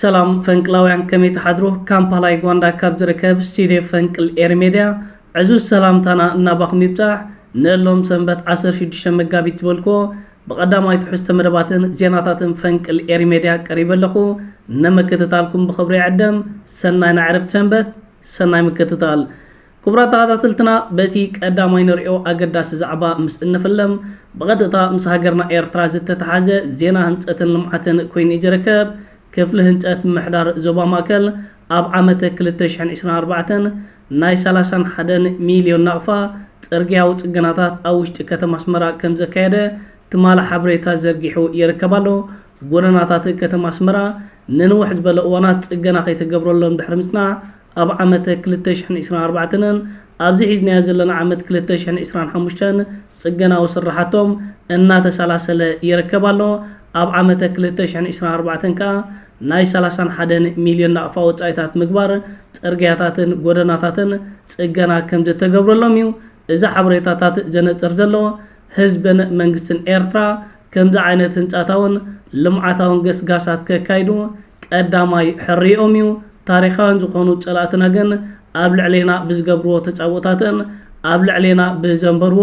ሰላም ፈንቅላውያን ከመይ ትሓድሩ ካምፓላ ዩጋንዳ ካብ ዝርከብ ስቲድዮ ፈንቅል ኤሪ ሜድያ ዕዙዝ ሰላምታና ናባኹም ይብጻሕ ንእሎም ሰንበት ዓሰርተ ሽዱሽተ መጋቢት ትበልኩዎ ብቀዳማይ ትሕዝቶ መደባትን ዜናታትን ፈንቅል ኤሪ ሜድያ ቀሪበ ኣለኹ ነምክትታልኩም ብኽብሪ ይዕደም ሰናይ ናዕርፍቲ ሰንበት ሰናይ ምክትታል ክቡራት ተኻታተልትና በቲ ቀዳማይ ንርእዮ ኣገዳሲ ዛዕባ ምስ እንፍልም ብቐጥታ ምስ ሃገርና ኤርትራ ዝተተሓዘ ዜና ህንጸትን ልምዓትን ኮይኑ'ዩ ዝርከብ። ክፍሊ ህንጸት ምምሕዳር ዞባ ማእከል ኣብ ዓመተ ክልተ ሽሕን ዕስራን ኣርባዕተን ናይ ሰላሳን ሓደን ሚልዮን ናቕፋ ጽርግያዊ ጽገናታት ኣብ ውሽጢ ከተማ ኣስመራ ከም ዘካየደ ትማሊ ሓበሬታ ዘርጊሑ ይርከብ ኣሎ። ጎደናታት ከተማ ኣስመራ ንንውሕ ዝበለ እዋናት ጽገና ከይተገብረሎም ድሕሪ ምጽናሕ ኣብ ዓመተ ክልተ ሽሕን ዕስራን ኣርባዕተንን ኣብዚ ሒዝናዮ ዘለና ዓመት ክልተ ሽሕን ዕስራን ሓሙሽተን ጽገናዊ ስርሓቶም እናተሰላሰለ ይርከብ ኣሎ። ኣብ ዓመተ ክልተ ሽሕን ዕስራን ኣርባዕተን ከኣ ናይ ሰላሳን ሓደን ሚልዮን ናቕፋ ወጻኢታት ምግባር ጽርግያታትን ጎደናታትን ጽገና ከምዝተገብረሎም'ዩ እዚ ሓበሬታታት ዘነጽር ዘሎ፣ ህዝብን መንግስትን ኤርትራ ከምዚ ዓይነት ህንጻታውን ልምዓታውን ገስጋሳት ከካይዱ ቀዳማይ ሕርይኦም እዩ፣ ታሪኻውያን ዝኾኑ ጸላእትና ግን ኣብ ልዕሌና ብዝገብርዎ ተጻብኦታትን ኣብ ልዕሌና ብዘንበርዎ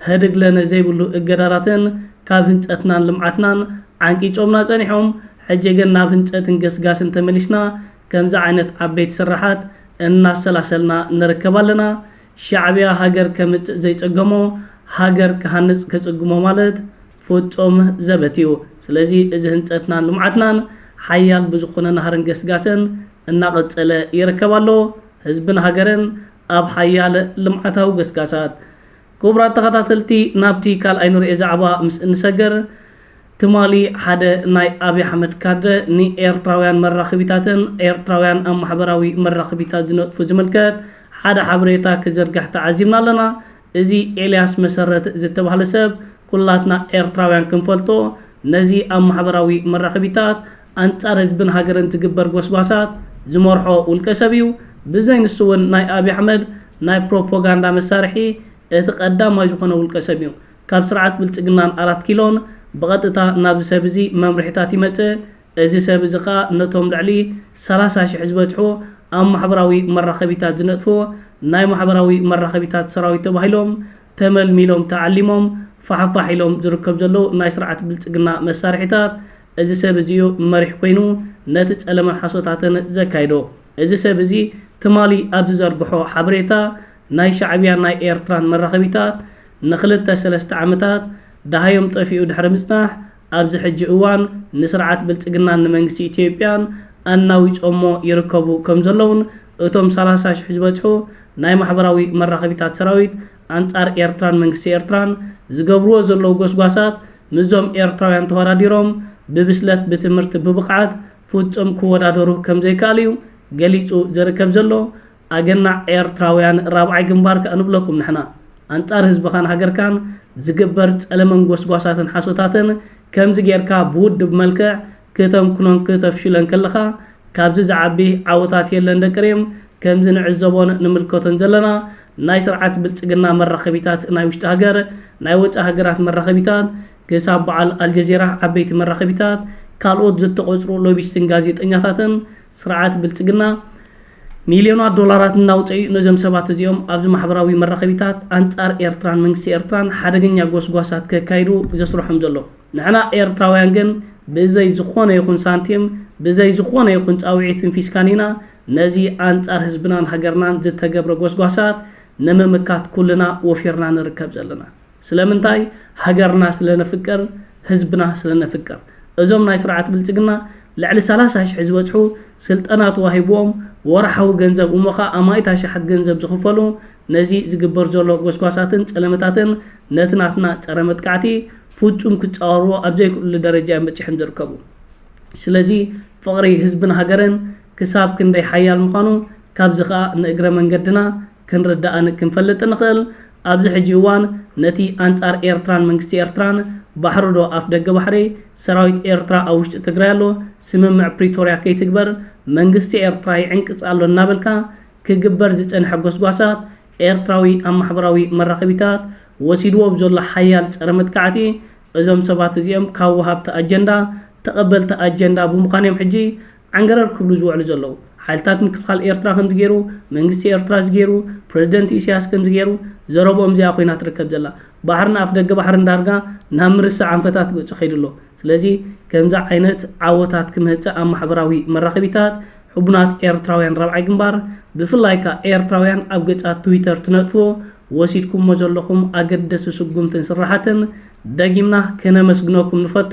ህድግለነ ዘይብሉ እገዳታትን ካብ ህንጸትናን ልምዓትናን ዓንቂጾምና ጸኒሖም፣ ሕጂ ግን ናብ ህንጸትን ገስጋስን ተመሊስና ከምዚ ዓይነት ዓበይቲ ስርሓት እናሰላሰልና ንርከብ ኣለና። ሻዕቢያ ሃገር ከምጽእ ዘይጸገሞ ሃገር ክሃንጽ ከጽግሞ ማለት ፍጹም ዘበት እዩ። ስለዚ እዚ ህንጸትናን ልምዓትናን ሓያል ብዝኾነ ናህርን ገስጋሰን እናቐጸለ ይርከብ ኣሎ። ህዝብን ሃገርን ኣብ ሓያል ልምዓታዊ ገስጋሳት። ክቡራት ተኸታተልቲ ናብቲ ካልኣይ ንርኤ ዛዕባ ምስ እንሰገር፣ ትማሊ ሓደ ናይ ኣብይ ኣሕመድ ካድረ ንኤርትራውያን መራኽቢታትን ኤርትራውያን ኣብ ማሕበራዊ መራኽቢታት ዝነጥፉ ዝምልከት ሓደ ሓበሬታ ክዝርግሕ ተዓዚብና ኣለና እዚ ኤልያስ መሰረት ዝተባህለ ሰብ ኩላትና ኤርትራውያን ክንፈልጦ ነዚ ኣብ ማሕበራዊ መራኽቢታት ኣንጻር ህዝብን ሃገርን ዝግበር ጎስጓሳት ዝመርሖ ውልቀ ሰብ እዩ ብዘይ ንሱ ውን ናይ ኣብይ ኣሕመድ ናይ ፕሮፖጋንዳ መሳርሒ እቲ ቀዳማይ ዝኾነ ውልቀ ሰብ እዩ ካብ ስርዓት ብልጽግናን ኣራት ኪሎን ብቐጥታ ናብዚ ሰብ እዚ መምርሒታት ይመጽእ፣ እዚ ሰብ እዚ ከኣ ነቶም ልዕሊ ሰላሳ ሽሕ ዝበጽሑ ኣብ ማሕበራዊ መራኸቢታት ዝነጥፉ ናይ ማሕበራዊ መራኸቢታት ሰራዊት ተባሂሎም ተመልሚሎም ተዓሊሞም ፋሕፋሕ ኢሎም ዝርከቡ ዘለዉ ናይ ስርዓት ብልጽግና መሳርሒታት እዚ ሰብ እዚ እዩ መሪሕ ኮይኑ ነቲ ጸለመን ሓሶታትን ዘካይዶ። እዚ ሰብ እዚ ትማሊ ኣብ ዝዘርግሖ ሓበሬታ ናይ ሻዕብያን ናይ ኤርትራን መራኸቢታት ንክልተ ሰለስተ ዓመታት ደሃዮም ጠፊኡ ድሕሪ ምጽናሕ ኣብዚ ሕጂ እዋን ንስርዓት ብልጽግናን ንመንግስቲ ኢትዮጵያን ኣናዊጾሞ ይርከቡ ከምዘለዉን እቶም ሰላሳ ሽሕ ዝበጽሑ ናይ ማሕበራዊ መራኸቢታት ሰራዊት ኣንጻር ኤርትራን መንግስቲ ኤርትራን ዝገብርዎ ዘለዉ ጎስጓሳት ምስዞም ኤርትራውያን ተወዳዲሮም ብብስለት ብትምህርቲ ብብቕዓት ፍጹም ክወዳደሩ ከምዘይከኣል'ዩ ገሊጹ ዝርከብ ዘሎ። ኣገናዕ ኤርትራውያን ራብዓይ ግንባር ከኣ ንብለኩም ንሕና። ኣንጻር ህዝብኻን ሃገርካን ዝግበር ጸለመን ጎስጓሳትን ሓሶታትን ከምዚ ጌርካ ብውድብ መልክዕ ክተምክኖን ክተፍሽሎን ከለኻ ካብዚ ዝዓቢ ዓወታት የለን ደቂ ሪም ከምዚ ንዕዘቦን ንምልከቶን ዘለና ናይ ስርዓት ብልጽግና መራኸቢታት ናይ ውሽጢ ሃገር ናይ ወጻኢ ሃገራት መራኸቢታት ክሳብ በዓል ኣልጀዚራ ዓበይቲ መራኸቢታት ካልኦት ዝተቖጽሩ ሎቢስትን ጋዜጠኛታትን ስርዓት ብልጽግና ሚልዮናት ዶላራት እናውጸኡ ነዞም ሰባት እዚኦም ኣብዚ ማሕበራዊ መራኸቢታት ኣንጻር ኤርትራን መንግስቲ ኤርትራን ሓደገኛ ጎስጓሳት ከካይዱ ዘስርሖም ዘሎ። ንሕና ኤርትራውያን ግን ብዘይ ዝኾነ ይኹን ሳንቲም ብዘይ ዝኾነ ይኹን ጻውዒትን ፊስካን ኢና ነዚ ኣንጻር ህዝብናን ሃገርናን ዝተገብረ ጎስጓሳት ንምምካት ኩልና ወፊርና ንርከብ ዘለና። ስለምንታይ ሃገርና ስለ ነፍቅር ህዝብና ስለ ነፍቅር እዞም ናይ ስርዓት ብልጽግና ልዕሊ ሰላሳ ሽሕ ዝበጽሑ ስልጠና ተዋሂብዎም ወርሓዊ ገንዘብ እሞ ከኣ ኣማኢት ኣሽሓት ገንዘብ ዝኽፈሉ ነዚ ዝግበር ዘሎ ጎስጓሳትን ጸለመታትን ነቲ ናትና ጸረ መጥቃዕቲ ፍጹም ክጻወርዎ ኣብ ዘይክእሉሉ ደረጃ እዮም በጺሖም ዝርከቡ ስለዚ ፍቕሪ ህዝብን ሃገርን ክሳብ ክንደይ ሓያል ምዃኑ ካብዚ ከኣ ንእግረ መንገድና ክንርዳእን ክንፈልጥን ንኽእል ኣብዚ ሕጂ እዋን ነቲ ኣንጻር ኤርትራን መንግስቲ ኤርትራን ባሕሪ ዶ ኣፍደገ ባሕሪ ሰራዊት ኤርትራ ኣብ ውሽጢ ትግራይ ኣሎ ስምምዕ ፕሪቶርያ ከይትግበር መንግስቲ ኤርትራ ይዕንቅጽ ኣሎ እናበልካ ክግበር ዝጸንሐ ጎስጓሳት ኤርትራዊ ኣብ ማሕበራዊ መራኸቢታት ወሲድዎ ብዘሎ ሓያል ጸረ መጥቃዕቲ እዞም ሰባት እዚኦም ካብ ወሃብቲ ኣጀንዳ ተቐበልቲ ኣጀንዳ ብምዃን እዮም ሕጂ ዓንገረር ክብሉ ዝውዕሉ ዘለዉ። ሓይልታት ምክልኻል ኤርትራ ከምዚ ገይሩ፣ መንግስቲ ኤርትራ እዚ ገይሩ፣ ፕረዚደንት ኢሲያስ ከምዚ ገይሩ፣ ዘረብኦም እዚኣ ኮይና ትርከብ ዘላ። ባሕርን ኣፍደገ ባሕርን ዳርጋ ናብ ምርሳዕ ኣንፈታት ገጹ ከይዱ ኣሎ። ስለዚ ከምዚ ዓይነት ዓወታት ክመጽእ ኣብ ማሕበራዊ መራኸቢታት ሕቡናት ኤርትራውያን ራብዓይ ግንባር ብፍላይ ከኣ ኤርትራውያን ኣብ ገጻት ትዊተር ትነጥፉ ወሲድኩሞ ዘለኹም ኣገደሲ ስጉምትን ስርሓትን ደጊምና ከነመስግነኩም ንፈቱ።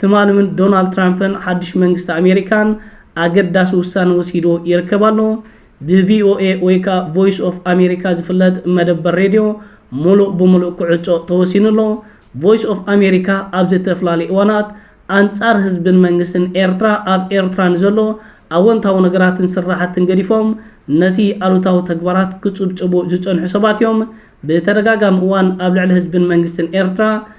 ትማሊ ውን ዶናልድ ትራምፕን ሓድሽ መንግስቲ ኣሜሪካን ኣገዳሲ ውሳነ ወሲዱ ይርከብ ኣሎ። ብቪኦኤ ወይ ከኣ ቮይስ ኦፍ ኣሜሪካ ዝፍለጥ መደበር ሬድዮ ሙሉእ ብሙሉእ ክዕጾ ተወሲኑ ኣሎ። ቮይስ ኦፍ ኣሜሪካ ኣብ ዘተፍላለዩ እዋናት ኣንጻር ህዝብን መንግስትን ኤርትራ ኣብ ኤርትራ ንዘሎ ኣወንታዊ ነገራትን ስራሕትን ገዲፎም ነቲ ኣሉታዊ ተግባራት ክጽብጽቡ ዝጸንሑ ሰባት እዮም። ብተደጋጋሚ እዋን ኣብ ልዕሊ ህዝብን መንግስትን ኤርትራ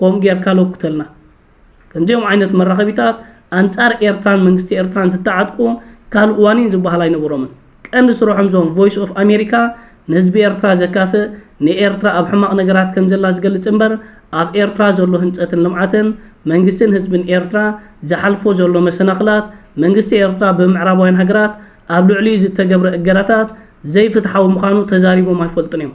ኮም ጌርካ ለኩተልና ከምዚኦም ዓይነት መራኸቢታት ኣንጻር ኤርትራን መንግስቲ ኤርትራን ዝተዓጥቁ ካልእ ዋኒን ዝበሃል ኣይነበሮምን ቀንዲ ስርሖም ዞም ቮይስ ኦፍ ኣሜሪካ ንህዝቢ ኤርትራ ዘካፍእ ንኤርትራ ኣብ ሕማቕ ነገራት ከም ዘላ ዝገልጽ እምበር ኣብ ኤርትራ ዘሎ ህንጸትን ልምዓትን መንግስትን ህዝብን ኤርትራ ዝሓልፎ ዘሎ መሰናኽላት መንግስቲ ኤርትራ ብምዕራባውያን ሃገራት ኣብ ልዕሊኡ ዝተገብረ እገዳታት ዘይፍትሓዊ ምዃኑ ተዛሪቦም ኣይፈልጡን እዮም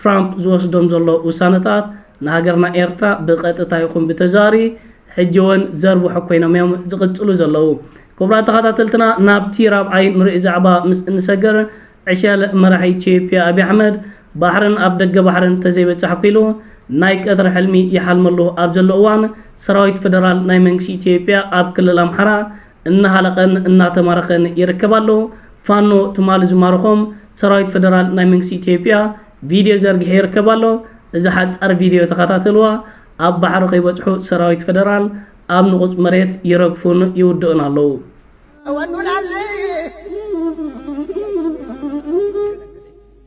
ትራምፕ ዝወስዶም ዘሎ ውሳነታት ንሃገርና ኤርትራ ብቀጥታ ይኹን ብተዘዋሪ ሕጂ ወን ዘርብሑ ኮይኖም እዮም ዝቅጽሉ ዘለዉ። ክቡራት ተኻታተልትና ናብቲ ራብዓይ ንርእ ዛዕባ ምስ እንሰገር ዕሸል መራሒ ኢትዮጵያ ኣብይ ኣሕመድ ባሕርን ኣፍ ደገ ባሕርን ተዘይበጻሕኩ ኢሉ ናይ ቀትሪ ሕልሚ ይሓልመሉ ኣብ ዘሎ እዋን ሰራዊት ፈደራል ናይ መንግስቲ ኢትዮጵያ ኣብ ክልል ኣምሓራ እናሃለቐን እናተማረኸን ይርከብ ኣሎ። ፋኖ ትማሊ ዝማረኾም ሰራዊት ፈደራል ናይ መንግስቲ ኢትዮጵያ ቪድዮ ዘርጊሑ ይርከብ ኣሎ። እዛ ሓጻር ቪድዮ ተኸታተልዋ። ኣብ ባሕሪ ከይበጽሑ ሰራዊት ፈደራል ኣብ ንቑጽ መሬት ይረግፉን ይውድኡን ኣለዉ። እወኑናል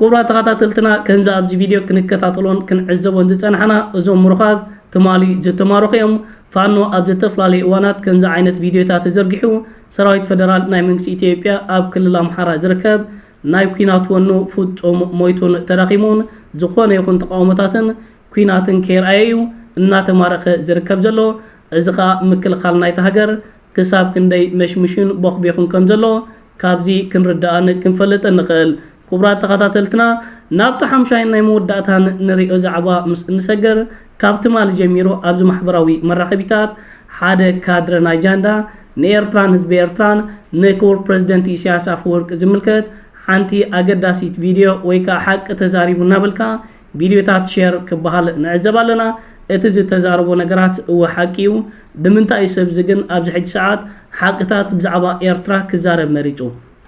ክቡራት ተኸታተልትና ከምዚ ኣብዚ ቪድዮ ክንከታተሎን ክንዕዘቦን ዝጸናሕና እዞም ምሩኻት ትማሊ ዝተማረኹ እዮም። ፋኖ ኣብ ዘተፈላለየ እዋናት ከምዚ ዓይነት ቪድዮታት ተዘርጊሑ ሰራዊት ፈደራል ናይ መንግስቲ ኢትዮጵያ ኣብ ክልል ኣምሓራ ዝርከብ ናይ ኲናት ወኑ ፍጹም ሞይቱን ተዳኺሙን ዝኾነ ይኹን ተቓውሞታትን ኲናትን ከየርኣየ እዩ እናተማረኸ ዝርከብ ዘሎ። እዚ ከኣ ምክልኻል ናይታ ሃገር ክሳብ ክንደይ መሽሙሹን ቦኽቤኹን ከም ዘሎ ካብዚ ክንርዳእን ክንፈልጥን ንኽእል። ኩቡራት ተኸታተልትና ናብቲ ሓምሻይን ናይ መወዳእታን ንሪኦ ዛዕባ ምስ እንሰገር ካብ ትማሊ ጀሚሩ ኣብዚ ማሕበራዊ መራኸቢታት ሓደ ካድረ ናይ ጃንዳ ንኤርትራን ህዝቢ ኤርትራን ንክቡር ፕረዚደንት ኢሳያስ ኣፈወርቂ ዝምልከት ሓንቲ ኣገዳሲት ቪድዮ ወይ ከኣ ሓቂ ተዛሪቡ እናበልካ ቪድዮታት ሼር ክበሃል ንዕዘብ ኣለና እቲ ዝተዛረቦ ነገራት እወ ሓቂ እዩ ብምንታይ እዩ ሰብ እዚ ግን ኣብዚ ሕጂ ሰዓት ሓቅታት ብዛዕባ ኤርትራ ክዛረብ መሪጹ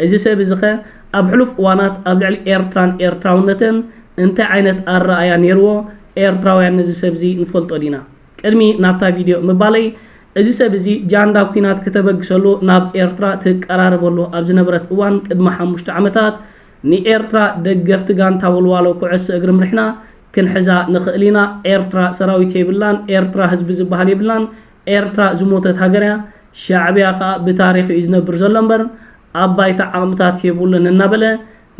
እዚ ሰብ እዚ ከ ኣብ ሕሉፍ እዋናት ኣብ ልዕሊ ኤርትራን ኤርትራውነትን እንታይ ዓይነት ኣረኣእያ ኔርዎ ኤርትራውያን ነዚ ሰብ እዚ ንፈልጦ ዲና ቅድሚ ናብታ ቪድዮ ምባለይ እዚ ሰብ እዚ ጃንዳ ኩናት ክተበግሰሉ ናብ ኤርትራ ትቀራረበሉ ኣብ ዝነበረት እዋን ቅድሚ ሓሙሽተ ዓመታት ንኤርትራ ደገፍቲ ጋንታ ወልዋሎ ኩዕሶ እግሪ ምርሕና ክንሕዛ ንኽእል ኢና ኤርትራ ሰራዊት የብላን ኤርትራ ህዝቢ ዝብሃል የብላን ኤርትራ ዝሞተት ሃገር እያ ሻዕብያ ከኣ ብታሪኽ እዩ ዝነብር ዘሎ እምበር ኣብ ባይታ ዓቕምታት የብሉን እናበለ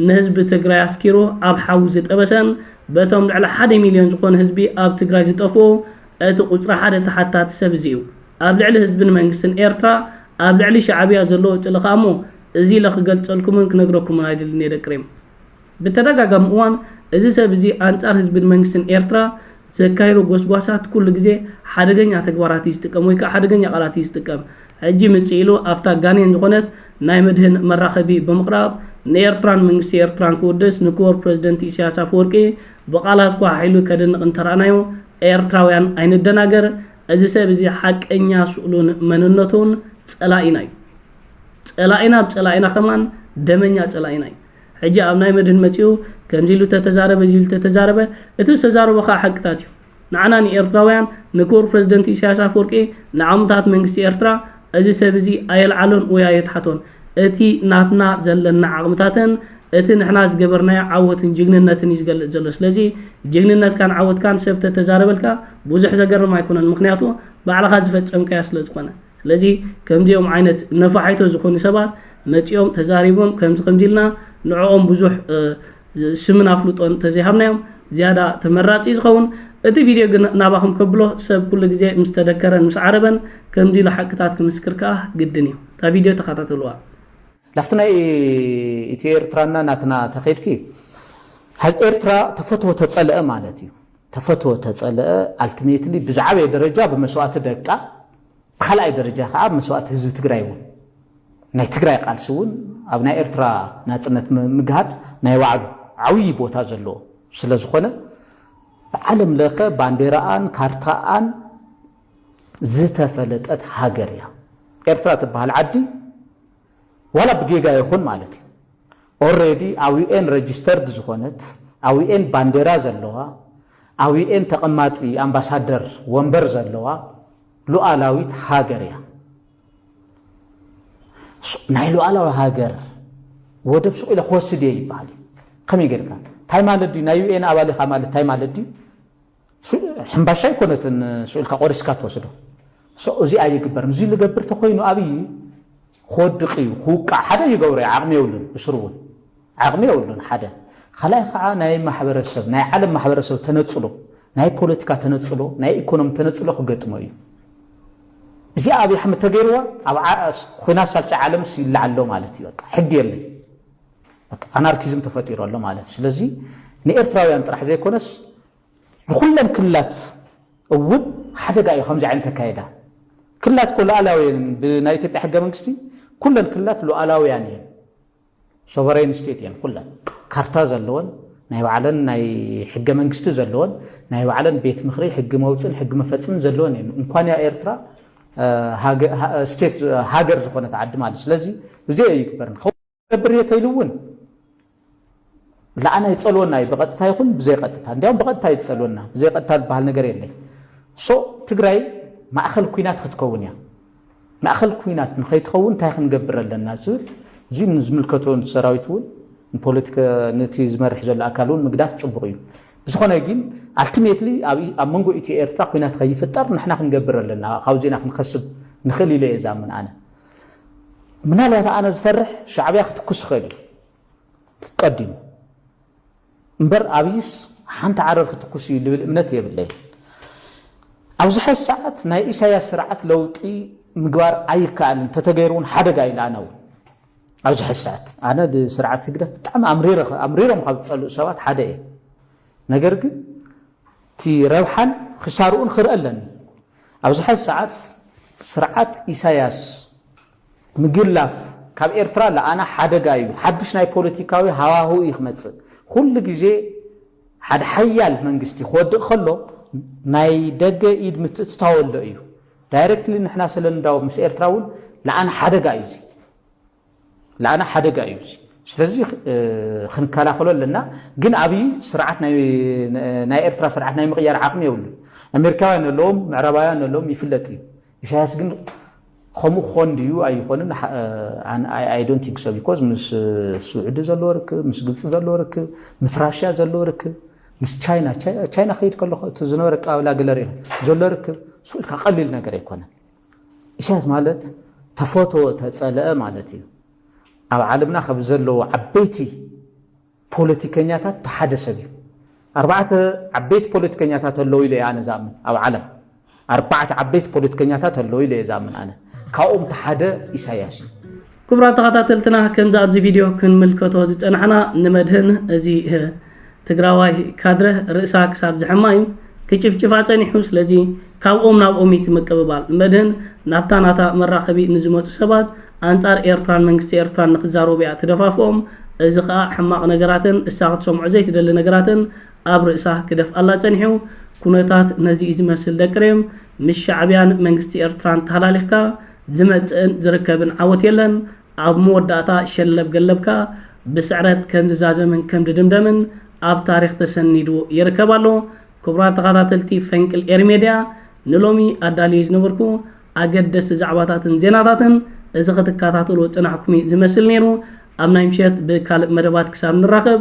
ንህዝቢ ትግራይ ኣስኪሩ ኣብ ሓዊ ዝጠበሰን በቶም ልዕሊ ሓደ ሚልዮን ዝኾኑ ህዝቢ ኣብ ትግራይ ዝጠፍኡ እቲ ቁጽሪ ሓደ ተሓታቲ ሰብ እዚ እዩ ኣብ ልዕሊ ህዝብን መንግስትን ኤርትራ ኣብ ልዕሊ ሻዕብያ ዘለዎ ጽልኢ ከኣ እሞ እዚ ኢለ ክገልጸልኩምን ክነግረኩምን ኣይደልን እየ ደቂ ሪም። ብተደጋጋሚ እዋን እዚ ሰብ እዚ ኣንጻር ህዝብን መንግስትን ኤርትራ ዘካይዶ ጎስጓሳት ኩሉ ግዜ ሓደገኛ ተግባራት እዩ ዝጥቀም ወይ ከኣ ሓደገኛ ቃላት እዩ ዝጥቀም። ሕጂ ምጽእ ኢሉ ኣብታ ጋኔን ዝኾነት ናይ መድህን መራኸቢ ብምቕራብ ንኤርትራን መንግስቲ ኤርትራን ክውድስ ንክቡር ፕረዚደንት ኢሳያስ ኣፈወርቂ ብቃላት ኳሕሒሉ ከድንቕ እንተራእናዮ ኤርትራውያን ኣይንደናገር እዚ ሰብ እዚ ሓቀኛ ስእሉን መንነቱን ጸላኢና እዩ። ጸላኢና ብ ጸላኢና ከማን ደመኛ ጸላኢና እዩ ሕጂ ኣብ ናይ መድህን መጺኡ ከምዚ ኢሉ ተተዛረበ እዚ ኢሉ ተተዛረበ እቲ ዝተዛረቦ ከኣ ሓቅታት እዩ ንዓና ንኤርትራውያን ንክቡር ፕረዚደንት ኢሳያስ ኣፈወርቂ ንዓሙታት መንግስቲ ኤርትራ እዚ ሰብ እዚ ኣየልዓሎን ወይ ኣየትሓቶን እቲ ናትና ዘለና ዓቕምታትን እቲ ንሕና ዝገበርናዮ ዓወትን ጅግንነትን እዩ ዝገልጽ ዘሎ ስለዚ ጅግንነትካን ዓወትካን ሰብ ተተዛረበልካ ብዙሕ ዘገርም ኣይኮነን ምክንያቱ ባዕልኻ ዝፈጸምካያ ስለ ዝኾነ ስለዚ ከምዚኦም ዓይነት ነፋሒቶ ዝኾኑ ሰባት መጺኦም ተዛሪቦም ከምዚ ከምዚ ኢልና ንዕኦም ብዙሕ ስምን ኣፍልጦን እንተዘይሃብናዮም ዝያዳ ተመራጺ እዩ ዝኸውን። እቲ ቪድዮ ግን ናባኹም ከብሎ ሰብ ኩሉ ግዜ ምስ ተደከረን ምስ ዓረበን ከምዚ ኢሉ ሓቅታት ክምስክር ከኣ ግድን እዩ። እታ ቪድዮ ተኸታተልዋ። ናብቲ ናይ ኢትዮ ኤርትራና ናትና ተኸድኪ ሀዝ ኤርትራ ተፈትወ ተጸልአ ማለት እዩ። ተፈትወ ተጸልአ ኣልቲሜትሊ ብዝዓበየ ደረጃ ብመስዋእቲ ደቃ ብካልኣይ ደረጃ ከኣ መስዋእቲ ህዝቢ ትግራይ እውን ናይ ትግራይ ቃልሲ እውን ኣብ ናይ ኤርትራ ናጽነት ምግሃድ ናይ ባዕሉ ዓብዪ ቦታ ዘለዎ ስለዝኾነ ብዓለም ለኸ ባንዴራኣን ካርታኣን ዝተፈለጠት ሃገር እያ ኤርትራ ትበሃል ዓዲ ዋላ ብጌጋ ይኹን ማለት እዩ ኦሬዲ ኣውኤን ረጅስተርድ ዝኾነት ኣውኤን ባንዴራ ዘለዋ ኣውኤን ተቐማጢ ኣምባሳደር ወንበር ዘለዋ ሉኣላዊት ሃገር እያ። ናይ ሉኣላዊ ሃገር ወደብ ሱቕ ኢለ ክወስድ እየ ይበሃል እዩ። ከመይ ጌርካ እንታይ ማለት ድዩ ናይ ዩኤን ኣባል ኢኻ ማለት እንታይ ማለት ድዩ? ሕምባሻ ኣይኮነትን ስኢልካ ቆሪስካ ትወስዶ so እዚ ኣይግበርን እዚ ልገብር ተኮይኑ ኣብይ ክወድቅ እዩ ክውቃዕ ሓደ ይገብሮ እዩ ዓቅሚ የብሉን ብስሩ እውን ዓቅሚ የብሉን ሓደ ካልኣይ ከዓ ናይ ማሕበረሰብ ናይ ዓለም ማሕበረሰብ ተነፅሎ ናይ ፖለቲካ ተነፅሎ ናይ ኢኮኖሚ ተነፅሎ ክገጥሞ እዩ እዚኣ ኣብይ ኣሕመድ ተገይርዋ ኣብ ኩናት ሳልሳይ ዓለምስ ይለዓሎ ማለት እዩ በቃ ሕጊ የለይ በቃ ኣናርኪዝም ተፈጢሩ ኣሎ ማለት እዩ። ስለዚ ንኤርትራውያን ጥራሕ ዘይኮነስ ንኹለን ክልላት እውን ሓደጋ እዩ ከምዚ ዓይነት ኣካየዳ። ክልላት እኮ ሉኣላውያን ብናይ ኢትዮጵያ ሕገ መንግስቲ ኩለን ክልላት ሉኣላውያን እየን፣ ሶቨሬን ስቴት እየን ኩለን ካርታ ዘለወን ናይ ባዕለን ናይ ሕገ መንግስቲ ዘለወን ናይ ባዕለን ቤት ምክሪ ሕጊ መውፅን ሕጊ መፈፅምን ዘለወን እየን እንኳን ያ ኤርትራ ስቴት ሃገር ዝኾነት ዓዲ ማለት ስለዚ እዚኦ ይግበር ክገብር እየ ተይሉ እውን ለዓና ይፀልወና እዩ ብቐጥታ ይኹን ብዘይቐጥታ እንዲያውም ብቐጥታ እዩ ዝፀልወና ብዘይቐጥታ ዝበሃል ነገር የለይ ሶ ትግራይ ማእኸል ኩናት ክትከውን እያ ማእኸል ኩናት ንኸይትኸውን እንታይ ክንገብር ኣለና ዝብል እዚ ንዝምልከቶ ሰራዊት እውን ንፖለቲካ ነቲ ዝመርሕ ዘሎ ኣካል እውን ምግዳፍ ፅቡቕ እዩ ብዝኾነ ግን ኣልቲሜትሊ ኣብ መንጎ ኢትዮ ኤርትራ ኩናት ከይፍጠር ንሕና ክንገብር ኣለና ካብዚና ክንኸስብ ንኽእል ኢለ እየ ዛምን ኣነ ምናልባት ኣነ ዝፈርሕ ሻዕብያ ክትኩስ ይኽእል እዩ ቀዲሙ እምበር ኣብይስ ሓንቲ ዓረር ክትኩስ እዩ ልብል እምነት የብለይን ኣብዚ ሓይ ሰዓት ናይ ኢሳያስ ስርዓት ለውጢ ምግባር ኣይከኣልን ተተገይሩ እውን ሓደጋ ኢለ ኣነ እውን ኣብዚ ሓይ ሰዓት ኣነ ብስርዓት ህግደፍ ብጣዕሚ ኣምሪሮም ካብ ዝፀልኡ ሰባት ሓደ እየ ነገር ግን እቲ ረብሓን ክሳርኡን ክርእ ኣለኒ። ኣብዚ ሐዚ ሰዓት ስርዓት ኢሳያስ ምግላፍ ካብ ኤርትራ ለኣና ሓደጋ እዩ። ሓዱሽ ናይ ፖለቲካዊ ሃዋህው እዩ ክመጽእ። ኩሉ ግዜ ሓደ ሓያል መንግስቲ ክወድቅ ከሎ ናይ ደገ ኢድ ምትእትታው ኣሎ እዩ። ዳይረክትሊ ንሕና ስለንዳወብ ምስ ኤርትራ እውን ለኣና ሓደጋ እዩ እዚ። ለኣና ሓደጋ እዩ እዚ ስለዚ ክንከላኸሎ ኣለና ግን ኣብይ ስርዓት ናይ ኤርትራ ስርዓት ናይ ምቕያር ዓቕሚ የብሉን ኣሜሪካውያን ኣለዎም ምዕራባውያን ኣለዎም ይፍለጥ እዩ ኢሳያስ ግን ከምኡ ክኾን ድዩ ኣይኾንን ኣይ ዶንት ቲንክ ሶ ቢኮዝ ምስ ስዑዲ ዘለዎ ርክብ ምስ ግብፂ ዘለዎ ርክብ ምስ ራሽያ ዘለዎ ርክብ ምስ ቻይና ቻይና ከይድ ከለኹ እቲ ዝነበረ ኣቀባብላ ገለር ዘሎ ርክብ ስኡልካ ቀሊል ነገር ኣይኮነን ኢሳያስ ማለት ተፈትወ ተጸለአ ማለት እዩ። ኣብ ዓለምና ካብ ዘለዉ ዓበይቲ ፖለቲከኛታት እቲ ሓደ ሰብ እዩ። ኣርባዕተ ዓበይቲ ፖለቲከኛታት ኣለዉ ኢለ እየ ኣነ ዝኣምን ኣብ ዓለም ኣርባዕተ ዓበይቲ ፖለቲከኛታት ኣለዉ ኢለ እየ ዝኣምን ኣነ ካብኦም እቲ ሓደ ኢሳያስ እዩ። ክቡራት ተኻታተልትና ከምዚ ኣብዚ ቪድዮ ክንምልከቶ ዝጸናሕና ንመድህን እዚ ትግራዋይ ካድረ ርእሳ ክሳብ ዝሕማ እዩ ክጭፍጭፋ ጸኒሑ ስለዚ ካብኦም ናብኦም እዩ ምቅብባል መድህን ናብታ ናታ መራኸቢ ንዝመጹ ሰባት ኣንጻር ኤርትራን መንግስቲ ኤርትራን ንክዛረቡ እያ ትደፋፍኦም እዚ ከኣ ሕማቕ ነገራትን እሳ ክትሰምዖ ዘይትደሊ ነገራትን ኣብ ርእሳ ክደፍኣላ ጸኒሑ ኩነታት ነዚ እዩ ዝመስል ደቂ ሬም ምስ ሻዕብያን መንግስቲ ኤርትራን ተሃላሊኽካ ዝመጽእን ዝርከብን ዓወት የለን፣ ኣብ መወዳእታ ሸለብ ገለብካ ብስዕረት ከም ዝዛዘምን ከም ዝድምደምን ኣብ ታሪኽ ተሰኒዱ ይርከብ ኣሎ። ክቡራት ተኻታተልቲ ፈንቅል ኤሪ ሜድያ ንሎሚ ኣዳልየዮ ዝነበርኩ ኣገደስቲ ዛዕባታትን ዜናታትን እዚ ክትካታተልዎ ዝጸናሕኩም'ዩ ዝመስል ነይሩ። ኣብ ናይ ምሸት ብካልእ መደባት ክሳብ ንራኸብ።